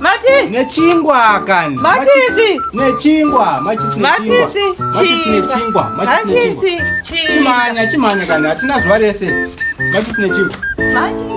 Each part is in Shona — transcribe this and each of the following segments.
Mati. Nechingwa kani. Matisi. Nechingwa. Matisi. Matisi. Matisi nechingwa. Matisi. Chimanya chimanya kani. Hatina zuva rese. Matisi nechingwa. Matisi.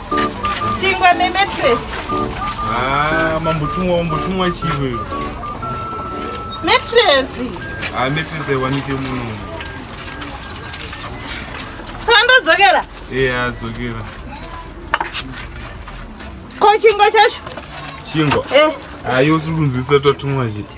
Chingwa ne mattress. Ah, mambo tumwa mambo tumwa chingwe. Mattress. Ah, mattress aiwanike muno. Sando dzokera. Eya, eh, dzokera. Ko chingwa chacho? Chingwa. Eh. Ayo ah, sikunzwisa tatumwa chiti.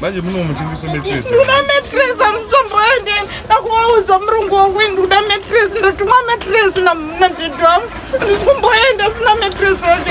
manje munomutengesa metres ndoda metres amutomboende ndakuvaudza murungu wakuini ndikuda metres ndatumwa metres nadedo am andisi kumboenda sina metres ende